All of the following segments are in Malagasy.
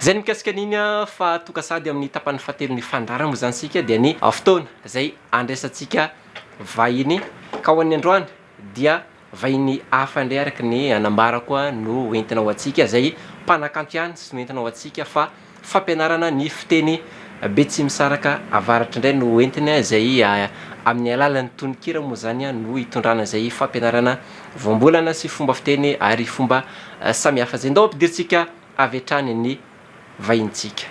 Zay ny mikasika an'iny fa toka sady amin'ny tapany fahatelon'ny fandaharana moa zany isika dia ny fotoana izay andraisantsika vahiny ka ho an'ny androany dia vahiny hafa indray araka ny anambarako no entina ho antsika izay mpanakanto ihany sy no entina ho antsika fa Fampianarana ny fiteny betsimisaraka avaratr indray no hoentiny izay amin'ny alalan'ny tononkira moa izany no hitondrana izay fampianarana voambolana sy fomba fiteny ary fomba samihafa izay. Ndao ampidirintsika avy hatrany ny vahinintsika.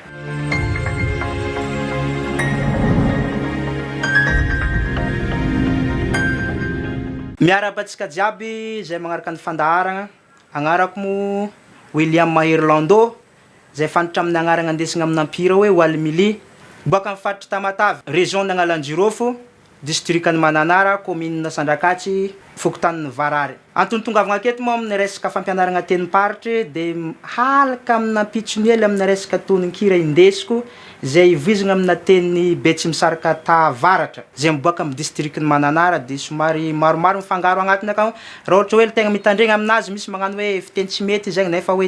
Miarahaba antsika jiaby izay magnaraka ny fandaharagna. Agnarako moa William Mahery Lando izay fantatra amin'ny agnaragna andesigna amina mpihira hoe Wally Milly, boaka amin'ny faritry Tamatave, Région Nagnalanjirofo, Distrikan'i Mananara, Kominina Sandrakatsy, Fokontanin'i Varary. Antony itongavagna aketo moa amin'ny resaka fampianaragna tenim-paritry dia mihalaka amin'ny ampitsony hely amina resaka tononkira indesiko izay ivoizagna amina teny Betsimisaraka Tahavaratra izay miboaka amin'ny Distrikan'i Mananara dia somary maromaro mifangaro agnatiny akao raha ohatra hoe tegna mitandregna aminazy misy magnano hoe fiteny tsy mety zegny nefa hoe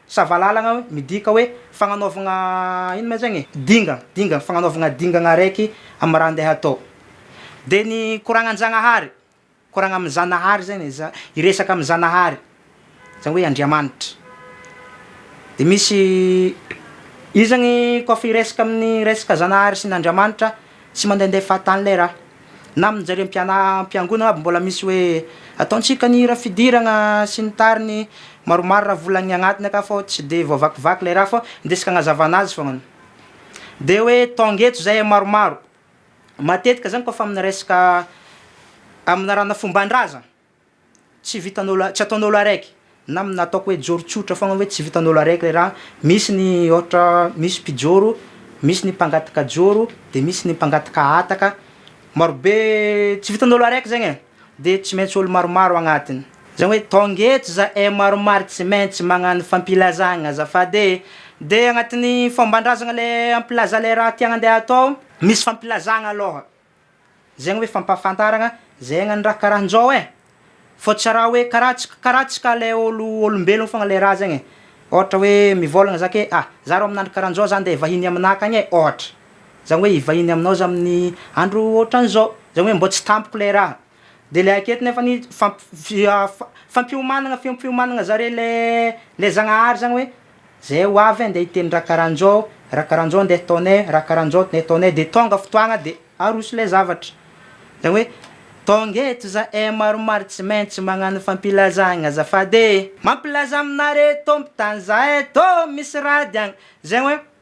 Sa valalagna hoe midika hoe fagnanaovagna ino ma zegny e? Dingagna, dingagna, fagnanaovagna dingagna araiky amin'ny raha andeha hatao. Dia ny koragna an-Jagnahary, koragna amin'ny Zanahary zegny e, za- hiresaka amin'ny Zanahary, zany hoe Andriamanitra. Dia misy, io zegny koa fa hiresaka amin'ny resaka Zanahary sy ny Andriamanitra, Tsy mandehandeha fahatany ilay raha. Na amin'ny nijeren'ny mpianam-piangonana aby mbola misy hoe ataontsika ny hira fidirana sy ny tariny maromaro raha vola ny agnatiny aka fô tsy dia voavakivaky ilay raha fô ndesy kagnazavana azy foagnany. Dia hoe tonga eto zahay maromaro. Matetika zany kôfa amin'ny resaka amin'ny laharana fomban-drazana. Tsy vitanao la, tsy ataonao la règle na amin'ny nataoko hoe joro tsotra foagna hoe tsy vitanao la règle raha misy ny ôhatra misy mpijoro, misy ny mpangataka joro, de misy ny mpangataka hataka, marobe tsy vitanao la règle zegny e, de tsy maintsy ôlo maromaro agnatiny, zany hoe tônga eto za eh maromaro tsy maintsy magnano fampilazagna azafady e, de agnatin'ny fômban-drazagna le ampilaza le raha tiagna andeha atao, misy fampilazagna alôha Zegny hoe fampahafantaragna zegny ny raha karaha njao e! Fô tsy raha hoe karaha tsy karaha tsy ka le ôlo ôlombelono fôgna le raha zegny e! Ôhatra hoe mivôlagna za ke a! za rô amin'andro karaha njao za ndeha vahiny aminà akagny e! ôhatra, zany hoe hivahiny aminao za amin'ny andro ôhatran'izao, zany hoe mbô tsy tampoko le raha. Dia le aketo nefa ny fampiomanana fampiomanana zareo le le zagnahary zany hoe zay ho avy andeha hiteny raha karanjao raha karanjao andeha ataonay raha karanjao andeha ataonay de tonga fotoagna de aroso le zavatra zany hoe tonga eto zahay maromaro tsy maintsy magnano fampilazagna azafady e! Mampilaza aminareo tô mpitany zahay tô misy raha diagna zegny hoe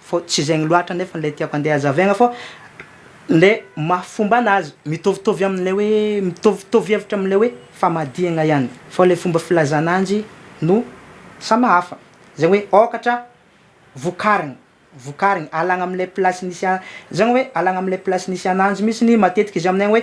Fa tsy zegny loatra nefa ilay tiako andeha hazavaigna fa le maha fomba anazy mitovitovy amin'ilay hoe mitovitovy hevitra amin'ilay hoe famadihagna ihany fa le fomba filazana anzy no sama hafa zegny hoe ôkatra vokarigny vokarigny alagna am'ilay place nisy a zegny hoe alagna am'ilay place nisy ananjy mitsiny matetika izy aminay hoe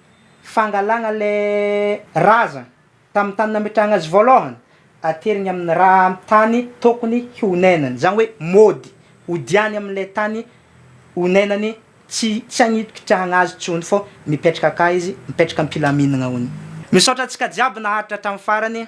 fangalana ilay razana tamin'ny tany nametrahana azy voalohany ateriny amin'ny ra amin'ny tany tokony honenany, izany hoe mody hodiany amin'ilay tany honenany tsy tsy any hikitrahana azy intsony fa mipetraka akany izy mipetraka am-pilaminana hono. Misaotra antsika jiaby naharitra hatramin'ny farany.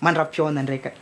mandram-pihaona andraikany.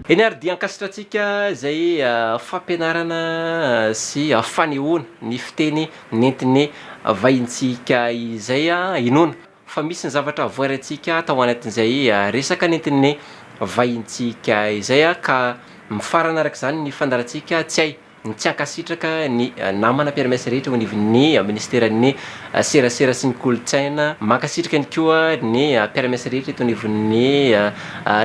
Eny ary dia ankasitrantsika izay fampianarana sy fanehoana ny fiteny nentin'ny vahintsika izay. Inoana fa misy ny zavatra voaraintsika tao anatin'izay resaka nentin'ny vahintsika izay ka mifarana araka izany ny fandaharantsika tsy hay Mitsiankasitraka ny namana mpiara-miasa rehetra eo anivon'ny Minisiteran'ny Serasera sy ny Kolontsaina. Mankasitraka ihany koa ny mpiara-miasa rehetra eto anivon'ny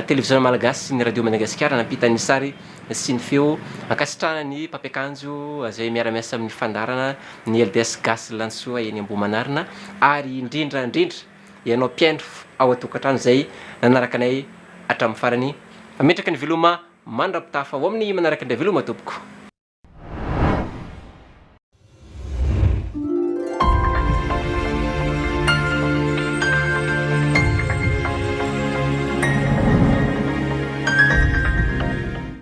Televiziona Malagasy sy ny Radio Madagasikara nampita ny sary sy ny feo. Ankasitrahana ny mpampiakanjo izay miara-miasa amin'ny fandaharana, ny LDS Gasy Lanisoa eny Ambohimanarina ary indrindra indrindra ianao mpihaino ao an-tokantrano izay nanaraka anay hatramin'ny farany. Ametraka ny veloma Mandra-pitafa ao amin'ny manaraka indray veloma tompoko.